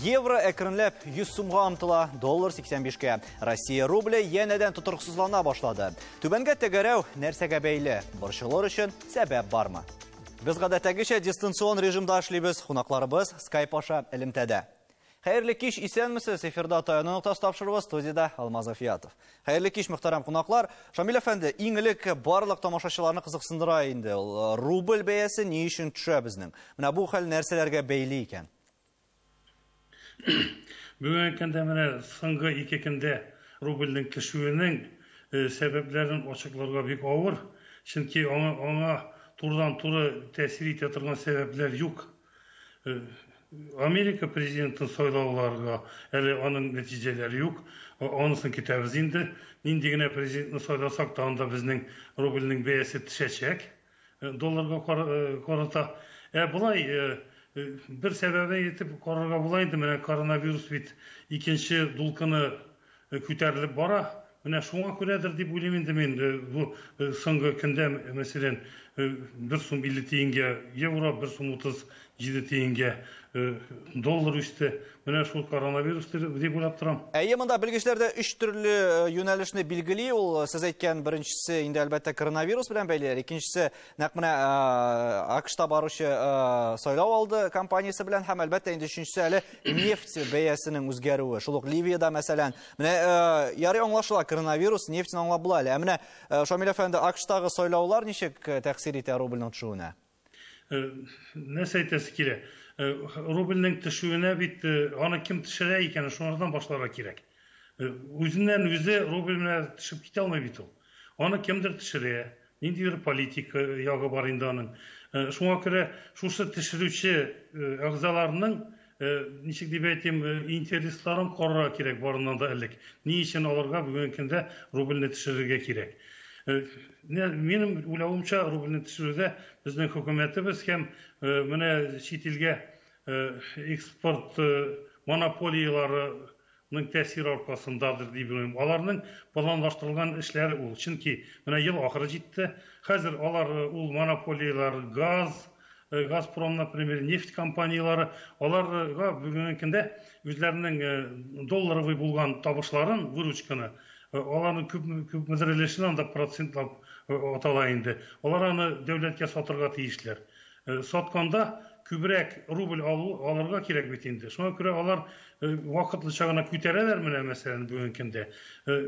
Евро әкренләп 100 сумга омтыла, доллар 85-кә. Россия рубле янәдән тотрыксызлана башлады. Түбәнгә тәгәрәү нәрсәгә бәйле? Борчылыр өчен сәбәп бармы? Без гадәттәгечә дистанцион режимда эшлибез. Кунакларыбыз скайп аша элемтәдә. Хәерле кич, исәнмесез! Эфирда Таянык тас тапшыруы студиядә Алмаз Афиятов. Хәерле кич, мөхтәрәм кунаклар. Шамил әфәнде, иң элек барлык тамашачыларны кызыксындыра инде. Э, рубль бәясе ни өчен төшә безнең? Менә бу хәл нәрсәләргә бәйле икән? Бүгенге көндә менә соңгы ике көндә рубльнең төшүенең э, сәбәпләрен ачыкларга бик авыр, чөнки аңа, аңа турыдан-туры тәэсир итә торган сәбәпләр юк. Америка президентын сайлауларга әле аның нәтиҗәләре юк. Анысын көтәбез инде. Нинди генә президентны сайласак та, анда безнең рубльнең бәясе төшәчәк долларга карата. Ә болай бер сәбәбе итеп карарга була инде, менә коронавирус бит икенче дулкыны күтәрелеп бара. Менә шуңа күрәдер дип уйлыйм инде мин, бу соңгы көндә, мәсәлән, бер сум 50 тиенгә евро, бер сум 37 тиенгә доллар үсте. Менә шул коронавирус дип уйлап торам. Әйе, монда белгечләр дә өч төрле юнәлешне билгели. Ул сез әйткән беренчесе инде, әлбәттә, коронавирус белән бәйле, икенчесе Нәкъ менә АКШта баручы сайлау алды компаниясе белән һәм әлбәттә инде өченчесе әле нефть бәясенең үзгәрүе. Шул ук Ливиядә мәсәлән, менә ярый аңлашыла коронавирус, нефтьне аңлап була әле. Ә менә Шамил әфәнде АКШтагы сайлаулар ничек тәэсир итә рубльнең төшүенә? Нәрсә әйтәсе килә? Рубльнең төшүенә бит аны кем төшерә икән, шуңардан башларга кирәк. Үзеннән үзе рубль менә төшеп китә алмый бит ул. Аны кемдер төшерә. Ниндидер политик ягы бар инде аның. Шуңа күрә шушы төшерүче әгъзаларның, ничек дип әйтим, интересларын карарга кирәк барыннан да элек. Ни өчен аларга бүгенге көндә рубльне төшерергә кирәк? Минем уйлавымча, рубльне төшерүдә безнең хөкүмәтебез һәм менә чит илгә экспорт монополияләре ның тәэсире аркасындадыр дип уйлыйм. Аларның планлаштырылган эшләре ул. Чөнки менә ел ахыры җитте. Хәзер алар э, ул монополияләр, газ, э, Газпром, например, нефть компанияләре, аларга бүгенге көндә үзләренең э, долларовый булган табышларын, выручканы, аларның күп күпмедер өлешен анда процентлап атала инде. Алар аны дәүләткә сатырга тиешләр. Сатканда күбрәк рубль алу, алырга кирәк бит инде. Шуңа күрә алар вакытлыча гына күтәрәләр менә мәсәлән бүгенге көндә.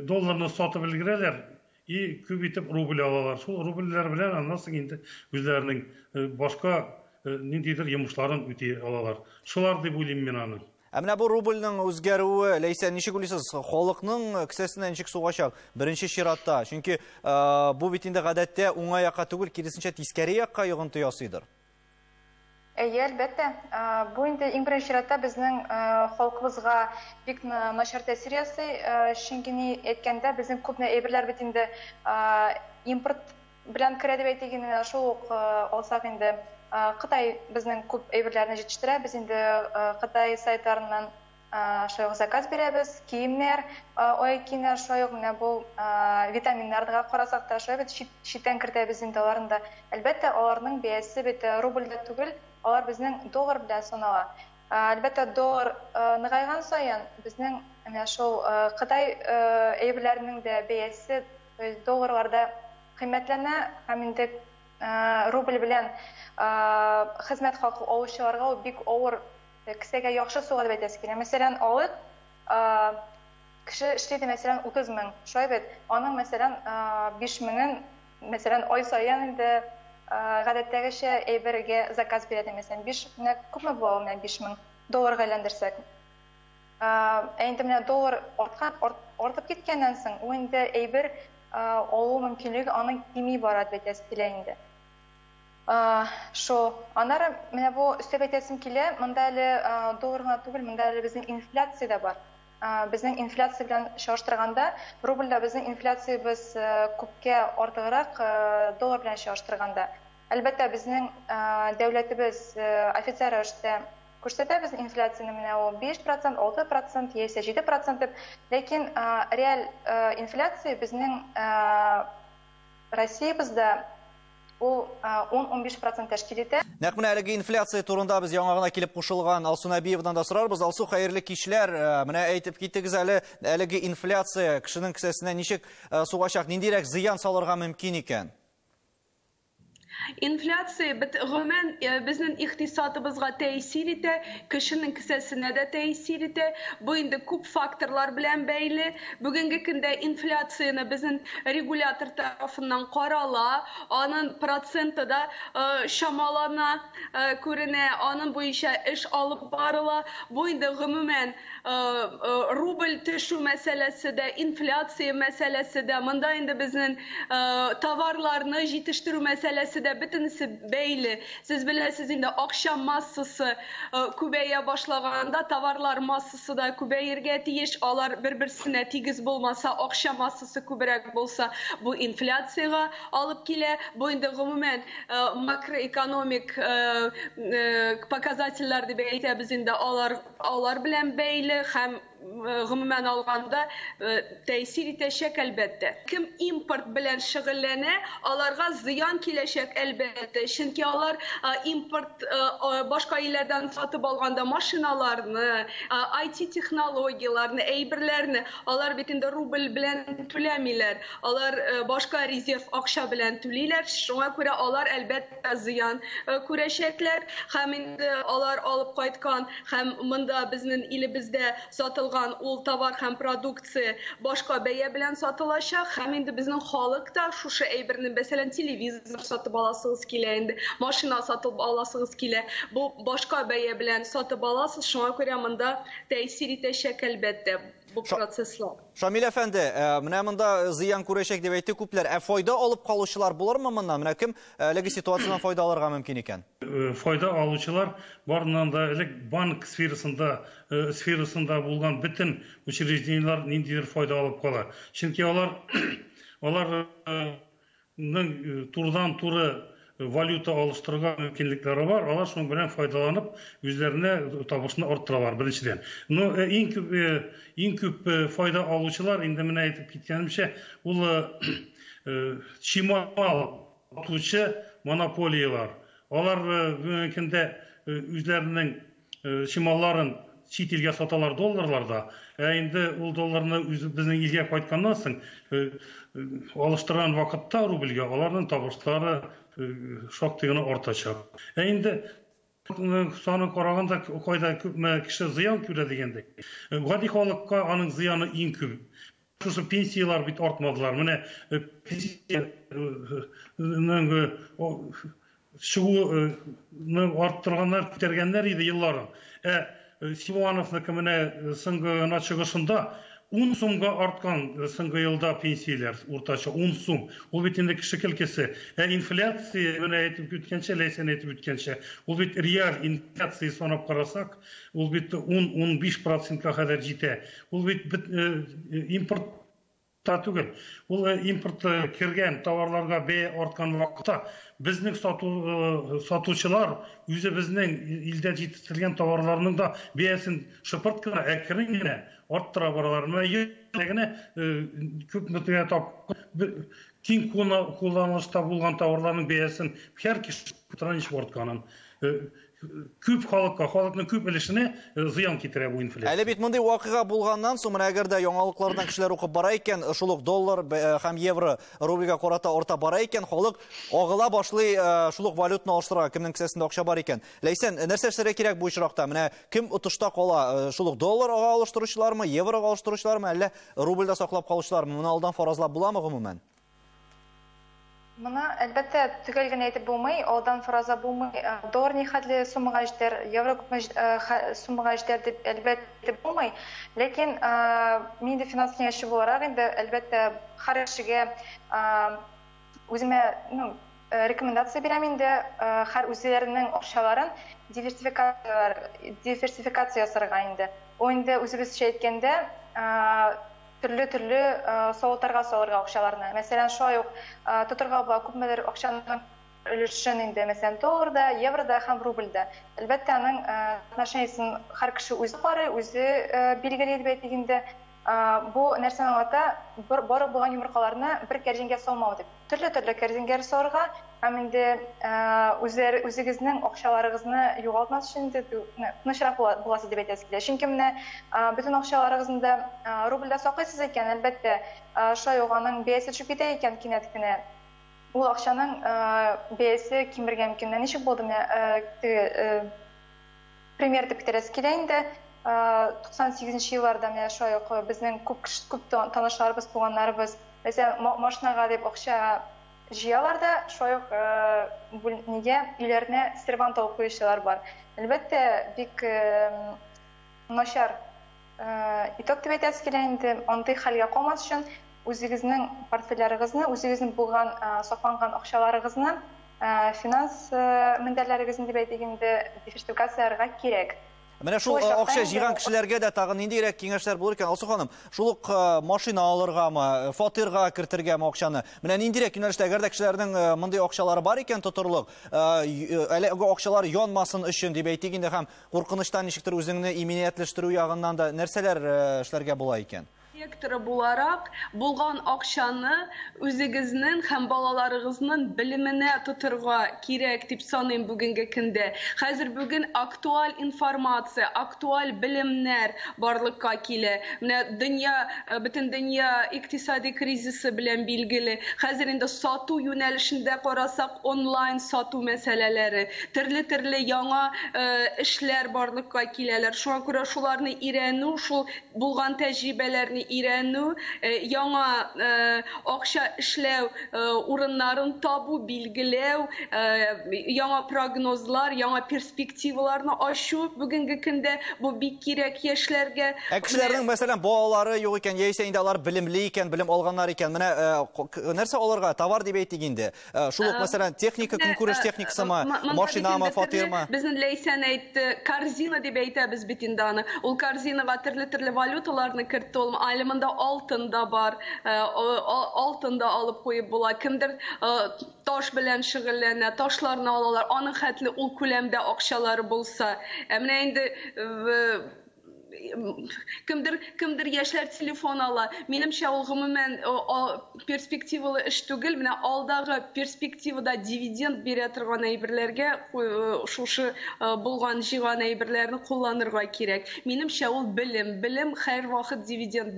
Долларны сатып өлгерәләр и күп итеп рубль алалар. Шул рубльләр белән аннан соң инде үзләренең башка ниндидер йомышларын үти алалар. Шулар дип уйлыйм мин аны. Ә менә бу рубльның үзгәрүе, Ләйсә, ничек уйлыйсыз, халыкның кесәсенә ничек сугачак? Беренче чиратта, чөнки бу бит инде гадәттә уңай якка түгел, киресенчә тискәре якка йогынты ясыйдыр. Әйе, әлбәттә. Бу инде иң беренче чиратта безнең халкыбызга бик начар тәэсир ясый, чөнки ни әйткәндә, безнең күп әйберләр бит инде импорт Белән керә дип әйтик инде, менә шул ук алсак инде, Кытай безнең күп әйберләрне җитештерә, без инде Кытай сайтларыннан шулай ук заказ бирәбез, киемнәр, аяк киемнәр, шулай ук менә бу витаминнарга карасак та, шулай бит читтән кертәбез инде аларны да. Әлбәттә, аларның бәясе бит рубльдә түгел, алар безнең доллар белән санала. Әлбәттә, доллар ныгайган саен, безнең менә шул Кытай әйберләренең дә бәясе То есть долларларда кыйммәтләнә һәм инде рубль белән хезмәт хакы алучыларга ул бик авыр, кесәгә яхшы суга дип әйтәсе килә. Мәсәлән, алыйк, кеше эшли иде, мәсәлән, 30 мең, шулай бит? Аның, мәсәлән, 5 меңен, мәсәлән, ай саен инде гадәттәгечә әйбергә заказ бирә ди, мәсәлән, 5 меңнән күпме була ул менә 5 мең долларга әйләндерсәк? Ә инде менә доллар арткан, артып киткәннән соң, ул инде әйбер алу мөмкинлеге аның кими бара дип әйтәсе килә инде. Шул. Аннары менә бу өстәп әйтәсем килә, монда әле доллар гына түгел, монда әле безнең инфляция дә бар. Безнең инфляция белән чагыштырганда, рубльдә безнең инфляциябез күпкә артыграк доллар белән чагыштырганда. Әлбәттә, безнең дәүләтебез официаль рәвештә Күрсәтәбез инфляцияне, менә ул биш процент, алты процент яисә җиде процент дип. Ләкин реаль инфляция безнең Россиябездә ул ун-унбиш процент тәшкил итә. Нәкъ менә әлеге инфляция турында без яңа гына килеп кушылган Алсу Нәбиевадан да сорарбыз. Алсу, хәерле кичләр. Э, менә әйтеп китегез әле, әлеге инфляция кешенең кесәсенә ничек э, сугачак, ниндирәк зыян салырга мөмкин икән? Инфляция бит гомумән безнең икътисадыбызга тәэсир итә, кешенең кесәсенә дә тәэсир итә. Бу инде күп факторлар белән бәйле. Бүгенге көндә инфляцияне безнең регулятор тарафыннан карала, аның проценты да чамалана, күренә, аның буенча эш алып барыла. Бу инде гомумән Э, э, рубль төшү мәсьәләсе дә, инфляция мәсьәләсе дә, монда инде безнең э, товарларны җитештерү мәсьәләсе дә бөтенесе бәйле. Сез беләсез инде акча массасы күбәя башлаганда товарлар массасы да күбәергә тиеш. Алар бер-берсенә тигез булмаса, акча массасы күбрәк булса, бу инфляциягә алып килә. Бу инде гомумән макроэкономик показательләр дип әйтәбез инде алар алар белән бәйле һәм гомумән алганда тәэсир итәчәк, әлбәттә. Кем импорт белән шөгыльләнә, аларга зыян киләчәк, әлбәттә, чөнки алар импорт башка илләрдән сатып алганда машиналарны, IT-технологияләрне, әйберләрне, алар бит инде рубль белән түләмиләр, алар башка резерв акча белән түлиләр, шуңа күрә алар, әлбәттә, да зыян э, күрәчәкләр һәм инде алар алып кайткан һәм монда безнең илебездә сатылган ул товар һәм продукция башка бәя белән сатылачак һәм инде безнең халык та шушы әйберне мәсәлән телевизор сатып аласыгыз килә инде машина сатып аласыгыз килә бу башка бәя белән сатып аласыз шуңа күрә монда тәэсир итәчәк әлбәттә бу процесслар. Шамил әфәнде, э, менә монда зыян күрәчәк дип әйтте күпләр. Ә файда алып калучылар булырмы моннан? Менә кем э, әлеге ситуациядән файда алырга мөмкин икән? Э, файда алучылар барыннан да элек банк сферасында сферасында булган бөтен учреждениеләр ниндидер файда алып кала. Чөнки алар алар Ның турыдан-туры валюта алыштыруга мөмкинлекләре бар, алар шуның белән файдаланып, үзләренә табышны арттыралар, беренчедән. Но э, иң күп, э, иң күп э, файда алучылар, инде менә әйтеп киткәнемчә, ул э, э, чимал атучы монополиялар. Алар э, бүгенге көндә э, үзләренең чималларын чит илгә саталар долларларда, ә инде ул долларны безнең илгә кайтканнан соң алыштырган вакытта рубльгә аларның табышлары шактый гына артачак. Ә инде саны караганда кайда күпме кеше зыян күрә дигәндәй, гади халыкка аның зыяны иң күп. Шушы пенсияләр бит артмадылар. Менә э, пенсиянең э, чыгуны арттырганнар, күтәргәннәр иде елларын. Ә Силуановныкы менә соңгы гына чыгышында 10 сумга арткан соңгы елда пенсияләр уртача 10 сум. Ул бит инде кеше килкесе. Ә инфляция, менә әйтеп үткәнчә, Ләйсән әйтеп үткәнчә, ул бит реаль инфляция санап карасак, ул бит 10-15 процентка кадәр җитә. Ул бит бит э, э, импорт та түгел. Ул э, импорт кергән товарларга бәя арткан вакытта безнең сату сатучылар үзе безнең илдә җитештерелгән товарларның да бәясен шыпырт кына әкрен генә арттыра баралар. Менә генә күп мөтәгә тап киң кулланылышта булган товарларның бәясен һәр кеше транш артканын күп халыкка, халыкның күп өлешенә э, зыян китерә бу инфляция. Әле бит мондый вакыйга булганнан соң, менә әгәр дә яңалыклардан кешеләр укып бара икән, э, шул ук доллар э, һәм евро рубльгә карата арта бара икән, халык агыла башлый шул ук валютаны алыштырырга, кемнең кесәсендә акча бар икән. Ләйсән, нәрсә эшләргә кирәк бу очракта? Менә кем отышта кала? Шул ук долларга алыштыручылармы, еврога алыштыручылармы, әллә рубльдә саклап калучылармы? Моны алдан фаразлап буламы гомумән? Моны, әлбәттә, төгәл генә әйтеп булмый, алдан фаразлап булмый. Доллар нихәтле суммага җитәр, евро күпме суммага җитәр дип, әлбәттә, әйтеп булмый. Ләкин мин инде финанс киңәшче буларак, инде, әлбәттә, һәр кешегә үземә рекомендация бирәм инде, һәр үзләренең акчаларын диверсификация ясарга инде. Ул инде үзебезчә әйткәндә, Төрле-төрле савытларга салырга акчаларны. Мәсәлән, шулай ук тотырга була күпмедер акчаның өлешен инде, мәсәлән, долларда, еврода һәм рубльдә. Әлбәттә, аның отношениесен һәр кеше үзе карый, үзе билгели дип әйтик инде. Бу нәрсәне аңлата, бар булган йомыркаларны бер кәрҗингә салмау дип. Төрле-төрле кәрзингә салырга һәм инде үзләр үзегезнең акчаларыгызны югалтмас өчен инде тынычрак буласы дип әйтәсе килә. Чөнки менә бөтен акчаларыгызны да рубльдә саклыйсыз икән, әлбәттә, шулай ук аның бәясе төшеп китә икән кинәт кенә, ул акчаның бәясе кимергән микән? Менә ничек булды менә теге Премьер итеп китерәсе килә инде. 98 нче елларда менә шулай ук безнең күп кеше, күп танышларыбыз, туганнарыбыз мәсәлән, машинага дип акча җыялар да, шулай ук бүлнигә, өйләренә сервант алып куючылар бар. Әлбәттә, бик начар Итог дип әйтәсе килә инде, андый хәлгә калмас өчен, үзегезнең портфельләрегезне, үзегезнең булган, сакланган акчаларыгызны, финанс мендәрләрегезне дип әйтик инде, диверсификацияләргә кирәк. Менә шул акча җыйган кешеләргә дә тагын ниндирәк киңәшләр булыр икән, Алсу ханым? Шул ук машина алыргамы, фатирга кертергәме акчаны? Менә ниндирәк юнәлештә, әгәр дә кешеләрнең мондый акчалары бар икән тотырлык, әле акчалары янмасын өчен дип әйтик инде, һәм Куркынычтан ничектер үзеңне иминиятләштерү ягыннан да нәрсәләр эшләргә була икән? Директоры буларак, булган акчаны үзегезнең һәм балаларыгызның белеменә тотырга кирәк дип саныйм бүгенге көндә. Хәзер бүген актуаль информация, актуаль белемнәр барлыкка килә. Менә дөнья, бөтен дөнья икътисади кризисы белән билгеле. Хәзер инде сату юнәлешендә карасак, онлайн сату мәсьәләләре, Төрле-төрле яңа эшләр барлыкка киләләр. Шуңа күрә шуларны өйрәнү, шул булган тәҗрибәләрне өйрәнү, яңа акча эшләү урыннарын табу, билгеләү, яңа прогнозлар, яңа перспективаларны ачу бүгенге көндә бу бик кирәк яшьләргә. Ә кешеләрнең, мәсәлән, балалары юк икән, яисә инде алар белемле икән, белем алганнар икән, менә нәрсә алырга, товар дип әйтик инде, Э, шул ук э, мәсәлән техника көнкүреш э, техникасымы машинамы фатирмы безнең ләйсән әйтте корзина дип әйтәбез бит инде аны ул корзинага төрле төрле валюталарны кертте ул әле монда алтын да бар алтын да алып куеп була кемдер таш белән шөгыльләнә ташларны алалар аның хәтле ул күләмдә акчалары булса ә менә инде кемдер кемдер яшьләр телефон ала. Минемчә, ул гомумән перспективалы эш түгел. Менә алдагы перспективада дивиденд бирә торган әйберләргә шушы булган җыйган әйберләрне кулланырга кирәк. Минемчә, ул белем. Белем һәрвакыт дивиденд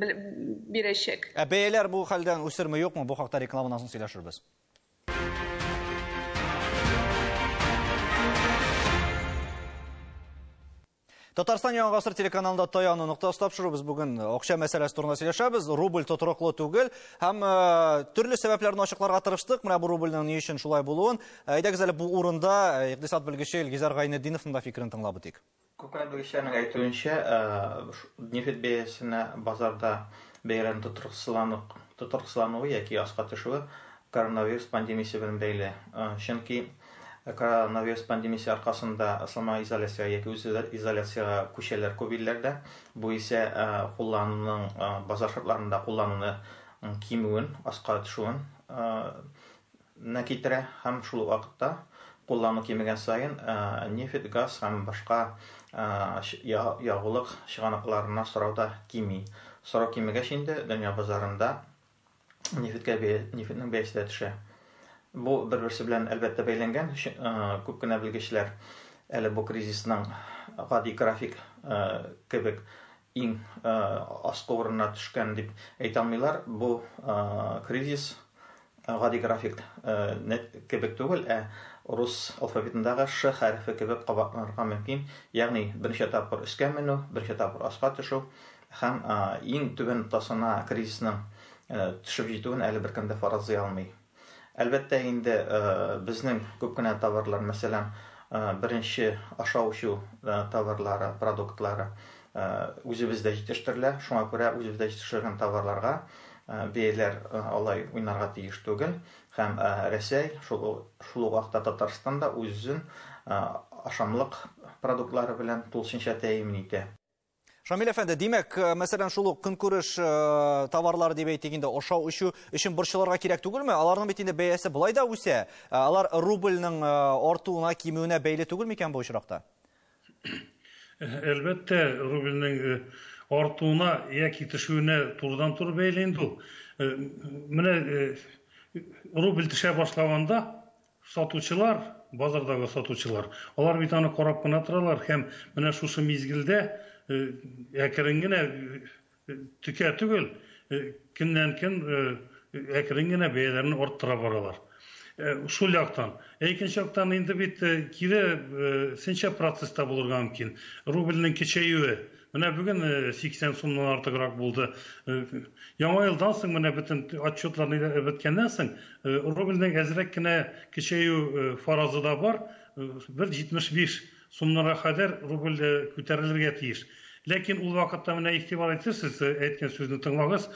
бирәчәк. Ә бәяләр бу хәлдән үсерме, юкмы? Бу хакта рекламадан соң сөйләшербез. Татарстан Яңа гасыр телеканалында таяну ноктасы тапшыру. Без бүген акча мәсьәләсе турында сөйләшәбез. Рубль тотрыклы түгел һәм э, төрле сәбәпләрне ачыкларга тырыштык. Менә бу рубльнең ни өчен шулай булуын. Э, әйдәгез әле бу урында э, икътисад белгече Илгизәр Гайнетдиновның да фикерен тыңлап үтик. Күпләр белгечләрнең әйтүенчә, нефть бәясенә базарда бәяләрнең тотрыксызлану тотрыксызлануы яки аска төшүе коронавирус пандемиясе белән бәйле. Чөнки Коронавирус пандемиясе аркасында самоизоляциягә яки үз изоляциягә күчәләр күп илләрдә. Бу исә куллануның базар шартларында куллануны кимүен, аска төшүен на китерә һәм шул ук вакытта куллану кимегән саен нефть, газ һәм башка ягулык чыганакларына сорау да кими. Сорау кимегәч инде дөнья базарында нефеткә нефетнең бәясе дә төшә. Бу бер-берсе белән әлбәттә бәйләнгән. Күп кенә белгечләр әле бу кризисның гади график кебек иң э, аскы урынына төшкән дип әйтә алмыйлар. Бу э, кризис э, гади график кебек түгел, ә рус алфавитындагы ш хәрефе кебек кабатланырга мөмкин. Ягъни берничә тапкыр өскә менү, берничә тапкыр аска төшү, Һәм иң түбән ноктасына кризисның төшеп җитүен әле беркем дә фаразлый алмый. Әлбәттә инде безнең күп кенә товарлар, мәсәлән, беренче ашау-эчү товарлары, продуктлары үзебездә җитештерелә, шуңа күрә үзебездә җитештерелгән товарларга бәяләр алай уйнарга тиеш түгел һәм Рәсәй, шул шул ук вакытта Татарстан да үзен ашамлык продуктлары белән тулысынча тәэмин итә. Шамил әфәнде, димәк, э, мәсәлән, шул ук көнкүреш э, товарлары дип әйтик инде, ашау өчү өчен борчылырга кирәк түгелме? Аларның бит инде бәясе болай да үсә. Э, алар рубльның артуына, кимүенә бәйле түгел микән бу очракта? Әлбәттә, рубльның артуына яки төшүенә турыдан туры бәйле инде ул. Менә рубль төшә башлаганда, Сатучылар, базардагы сатучылар, алар бит аны карап кына торалар һәм менә шушы мизгелдә әкрен генә, текә түгел, көннән-көн әкрен генә бәяләрен арттыра баралар. Шул яктан. Ә икенче яктан инде бит кире сенчә процесста булырга мөмкин. Рубльнең кечәюе Менә бүген 80 сумнан артыграк булды. Яңа елдан соң менә бөтен отчетлар ниләр беткәннән соң рубльнең әзрәк кенә кечәю фаразы да бар. Бер 75 сумнарга кадәр рубль күтәрелергә тиеш. Ләкин ул вакытта менә игътибар итсез, сез әйткән сүзне тыңлагыз,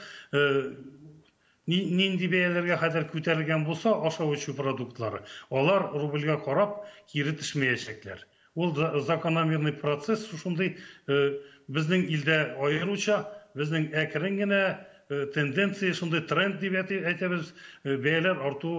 Нинди бәяләргә кадәр күтәрелгән булса ашау-эчү продуктлары, алар рубльгә карап кире төшмәячәкләр. Ул закономерный процесс шушындый безнең илдә аеруча, безнең әкрен генә тенденция шундый тренд дип әйтәбез, бәяләр арту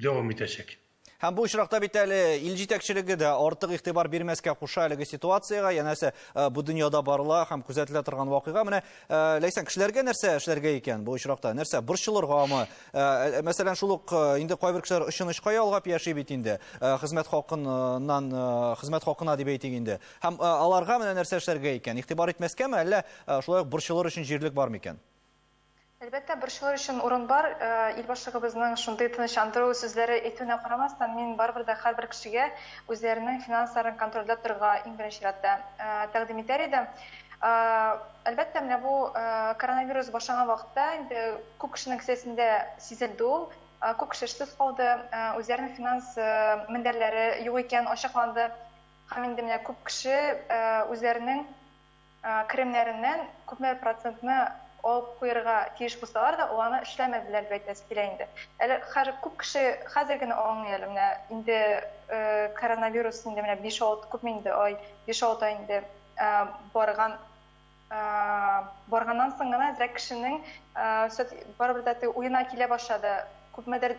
дәвам итәчәк. Һәм бу очракта бит әле ил җитәкчелеге дә артык игътибар бирмәскә куша әлеге ситуациягә, янәсе э, бу дөньяда барыла һәм күзәтелә торган вакыйга. Менә э, Ләйсән, кешеләргә нәрсә эшләргә икән бу очракта? Нәрсә борчылыргамы? Э, мәсәлән, шул ук инде кайбер кешеләр очынычка ялгап яши бит инде. Хезмәт хакыннан хезмәт хакына дип әйтик инде. Һәм аларга менә нәрсә эшләргә икән? Игътибар итмәскәме, әллә шулай ук борчылыр өчен җирлек бармы икән? Әлбәттә, борчылыр өчен урын бар. Ил башлыгыбызның шундый тынычландыру сүзләре әйтүенә карамастан, мин барыбер дә һәрбер кешегә үзләренең финансларын контрольдә торырга иң беренче чиратта тәкъдим итәр идем. Әлбәттә, менә бу коронавирус башланган вакытта инде күп кешенең кесәсендә сизелде ул. Күп кеше эшсез калды, үзләренең финанс мендәрләре юк икән, ачыкланды. Һәм инде менә күп кеше үзләренең керемнәреннән күпме процентны алып куярга тиеш булсалар да, ул аны эшләмәделәр дип әйтәсе килә инде. Әле хәзер күп кеше хәзер генә аңлый әле, менә инде коронавирус инде менә биш-алты, күпме инде ай, биш-алты ай инде барган, барганнан соң гына әзрәк кешенең барыбер дә теге уена килә башлады, күпмедер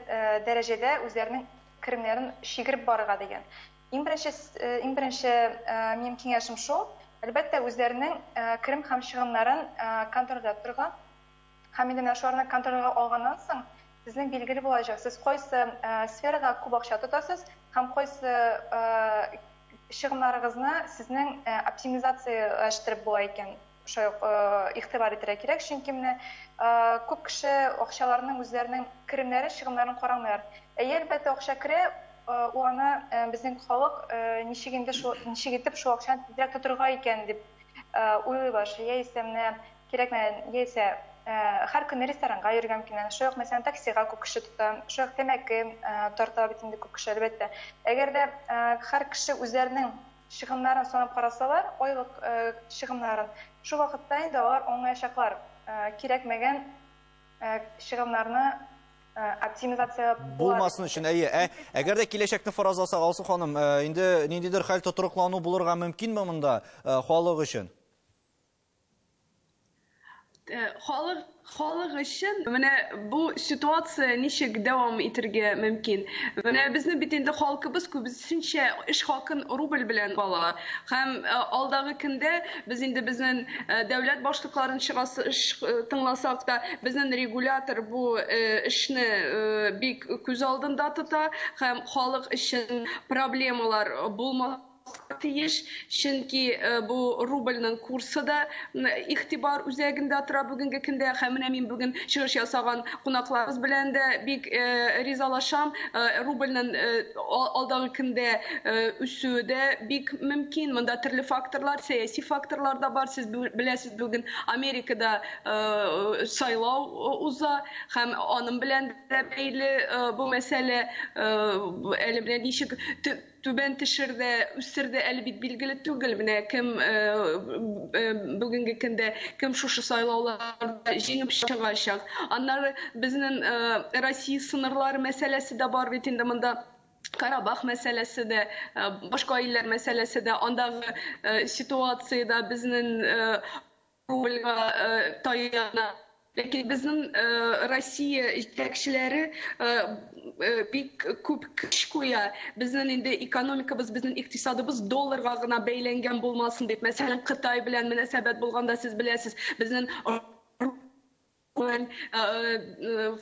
дәрәҗәдә үзләренең керемнәрен чигереп барырга дигән. Иң беренче, иң беренче минем киңәшем шул, әлбәттә, үзләренең керем һәм чыгымнарын контрольдә торырга. Һәм инде менә шуларны контрольгә алганнан соң, сезнең билгеле булачак, сез кайсы сферага күп акча тотасыз һәм кайсы чыгымнарыгызны сезнең оптимизацияләштереп була икән. Шулай ук игътибар итәргә кирәк, чөнки менә күп кеше акчаларының үзләренең керемнәрен, чыгымнарын карамыйлар. Әйе, әлбәттә, акча керә, ул аны безнең халык ничек инде шул, ничек итеп шул акчаны тизрәк тотырга икән дип уйлый башлый. Яисә менә кирәкмәгән, яисә һәр көнне ресторанга йөргән килгән, шулай ук мәсәлән таксига күп кеше тота, шулай ук тәмәке тарта бит инде күп кеше, әлбәттә. Әгәр дә һәр кеше үзләренең чыгымнарын санап карасалар, айлык чыгымнарын, шул вакытта инде алар аңлаячаклар, кирәкмәгән чыгымнарны оптимизация була. Булмасын өчен, әйе. Ә әгәр дә киләчәкне фаразласак, Алсу ханым, инде ниндидер хәл тотрыклану булырга мөмкинме монда халык өчен? Э, халык халык өчен менә бу ситуация ничек дәвам итәргә мөмкин менә безнең бит инде халкыбыз күбесенчә эш хакын рубль белән ала һәм э, алдагы көндә без инде безнең э, дәүләт башлыкларын чыгасы тыңласак та безнең регулятор бу эшне бик күз алдында тота һәм халык өчен проблемалар булмас тиеш, чөнки бу рубльнең курсы да игътибар үзәгендә тора бүгенге көндә һәм менә мин бүген чыгыш ясаган кунакларыбыз белән дә бик ризалашам. Рубльнең алдагы көндә үсүе дә бик мөмкин. Монда төрле факторлар, сәяси факторлар да бар. Сез беләсез, бүген Америкада сайлау уза һәм аның белән дә бәйле бу мәсьәлә әле менә ничек Түбән тешерде, үстерде әле бит билгеле түгел, менә кем бүгенге көндә, кем шушы сайлауларда җиңеп чыгачак. Аннары безнең Россия сыннарлары мәсьәләсе дә бар бит инде монда. Карабах мәсьәләсе дә, башка илләр мәсьәләсе дә, андагы ситуация дә безнең рубльга таяна. Ләкин безнең Россия җитәкчеләре бик күп көч куя. Безнең инде экономикабыз, безнең икътисадыбыз долларга гына бәйләнгән булмасын дип. Мәсәлән, Кытай белән мөнәсәбәт булганда, сез беләсез, безнең Куән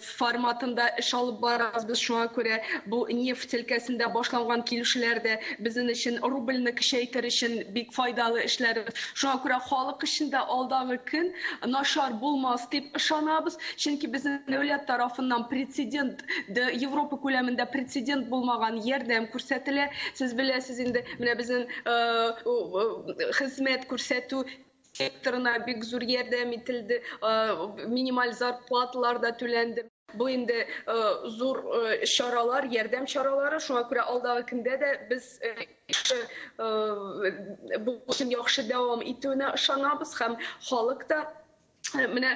форматында эш алып барабыз без, шуңа күрә бу нефть өлкәсендә башланган килешүләр дә безнең өчен рубльне көчәйтер өчен бик файдалы эшләр. Шуңа күрә халык өчен дә алдагы көн начар булмас дип ышанабыз, чөнки безнең дәүләт тарафыннан прецедент, Европа күләмендә прецедент булмаган ярдәм күрсәтелә. Сез беләсез инде, менә безнең хезмәт күрсәтү, секторына бик зур ярдәм ителде, минималь зарплаталар да түләнде. Бу инде зур чаралар, ярдәм чаралары, шуңа күрә алдагы көндә дә без бу эшнең яхшы дәвам итүенә ышанабыз һәм халык та менә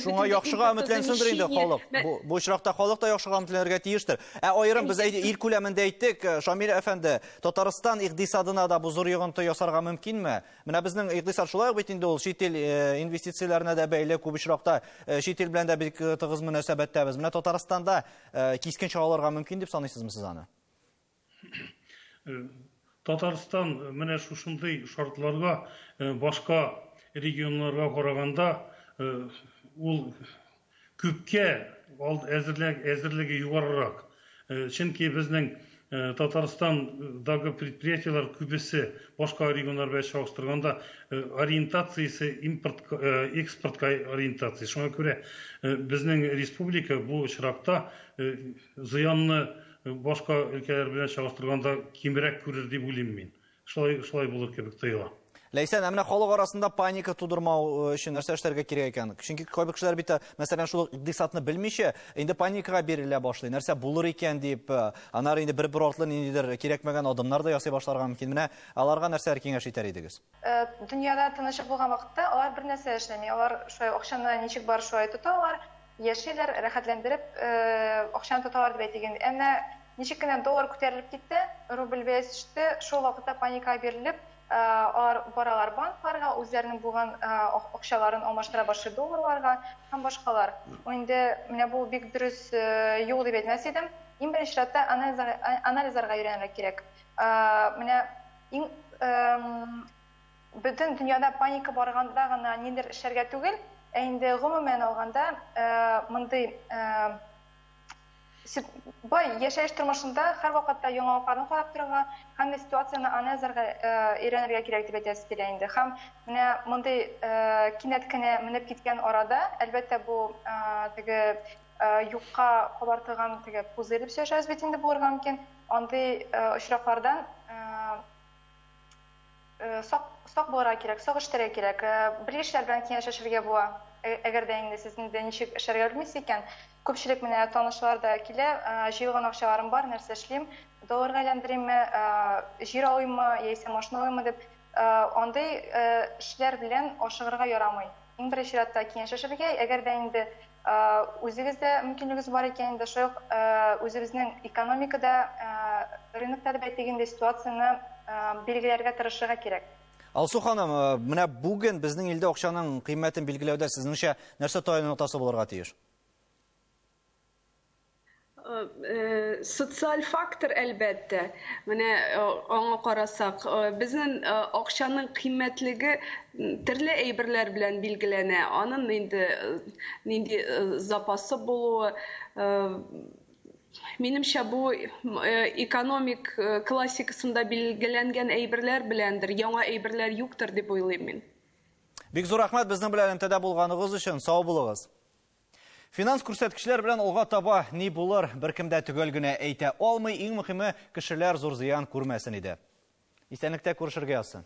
шуңа яхшыга өметләнсендер инде халык бу очракта халык та яхшыга өметләнергә тиештер ә аерым без ил күләмендә әйттек шамил әфәнде татарстан икъдисадына да бу зур йогынты ясарга мөмкинме Менә безнең икътисад шулай бит инде ул чит ил э, инвестицияләренә дә бәйле күп очракта э, чит ил белән дә бик э, тыгыз мөнәсәбәттәбез. Менә Татарстанда кискен чараларга мөмкин дип саныйсызмы сез аны? Татарстан менә шушындый шартларга башка регионнарга караганда ул Күпкә алд әзерләг әзерлеге югарырак, чөнки безнең Татарстан дагы предприятиеләр күбесе башка регионнар белән чагыштырганда ориентациясе импорт экспортка ориентация. Шуңа күрә безнең республика бу очракта зыянны башка өлкәләр белән чагыштырганда кимрәк күрер дип уйлыйм мин. Шулай, шулай булыр кебек тоела. Ләйсән, ә менә халык арасында паника тудырмау э, өчен нәрсә эшләргә кирәк икән? Чөнки кайбер кешеләр бит, э, мәсәлән, шул икъдисадны белмичә, инде паникага бирелә башлый. Нәрсә булыр икән дип, э, анар инде бер-бер артлы ниндидер кирәкмәгән адымнар да ясый башларга мөмкин. Менә аларга нәрсәләр киңәш итәр идегез? Дөньяда тынычлык булган вакытта алар бер нәрсә эшләми. Алар шулай акчаны ничек бар шулай тоталар. Яшиләр, рәхәтләндереп акчаны тоталар дип әйтик инде. Әмма ничек кенә доллар күтәрелеп китте, рубль бәясе төште, шул вакытта паникага бирелеп, алар баралар банкларга, үзләренең булган акчаларын алмаштыра башлый долларларга һәм башкалар. Инде менә бу бик дөрес юл дип әйтмәс идем. Иң беренче чиратта анализларга өйрәнергә кирәк. Менә иң Бөтен дөньяда паника барганда гына нидер эшләргә түгел, ә инде гомумән алганда мондый бай яшәеш тормышында һәрвакытта яңалыкларны карап торырга, һәммә ситуацияне анализларга өйрәнергә кирәк дип әйтәсе килә инде. Һәм менә мондый кинәт кенә менеп киткән арада, әлбәттә, бу теге юкка кабартылган теге пузырь дип сөйләшәбез бит инде булырга мөмкин, андый очраклардан Сак, сак булырга кирәк, сак эшләргә кирәк. Бер яшьләр белән киңәшләшергә була. Әгәр дә инде сез инде ничек эшләргә белмисез икән, күпчелек менә танышлар да килә, җыелган акчаларым бар, нәрсә эшлим, долларга әйләндеримме, җир алыйммы, яисә машина алыйммы дип, андый эшләр белән ашыгырга ярамый. Иң беренче чиратта киңәшләшергә, әгәр дә инде Үзегездә мөмкинлегез бар икән, инде шул ук үзебезнең экономикада, рынокта дип әйтик инде, ситуацияне билгеләргә тырышырга кирәк. Алсу ханым, менә бүген безнең илдә акчаның кыйммәтен билгеләүдә сезнеңчә нәрсә таянып тасы булырга тиеш? Социаль фактор, әлбәттә. Менә аңа карасак, безнең акчаның кыйммәтлеге төрле әйберләр белән билгеләнә. Аның инде нинди запасы булуы, минемчә, бу экономик классикасында билгеләнгән әйберләр беләндер, яңа әйберләр юктыр дип уйлыйм мин. Бик зур рәхмәт безнең белән элемтәдә булганыгыз өчен, сау булыгыз. Финанс күрсәткечләр белән алга таба ни булыр, беркем дә төгәл генә әйтә алмый, иң мөхиме, кешеләр зур зыян күрмәсен иде. Исәнлектә күрешергә язсын.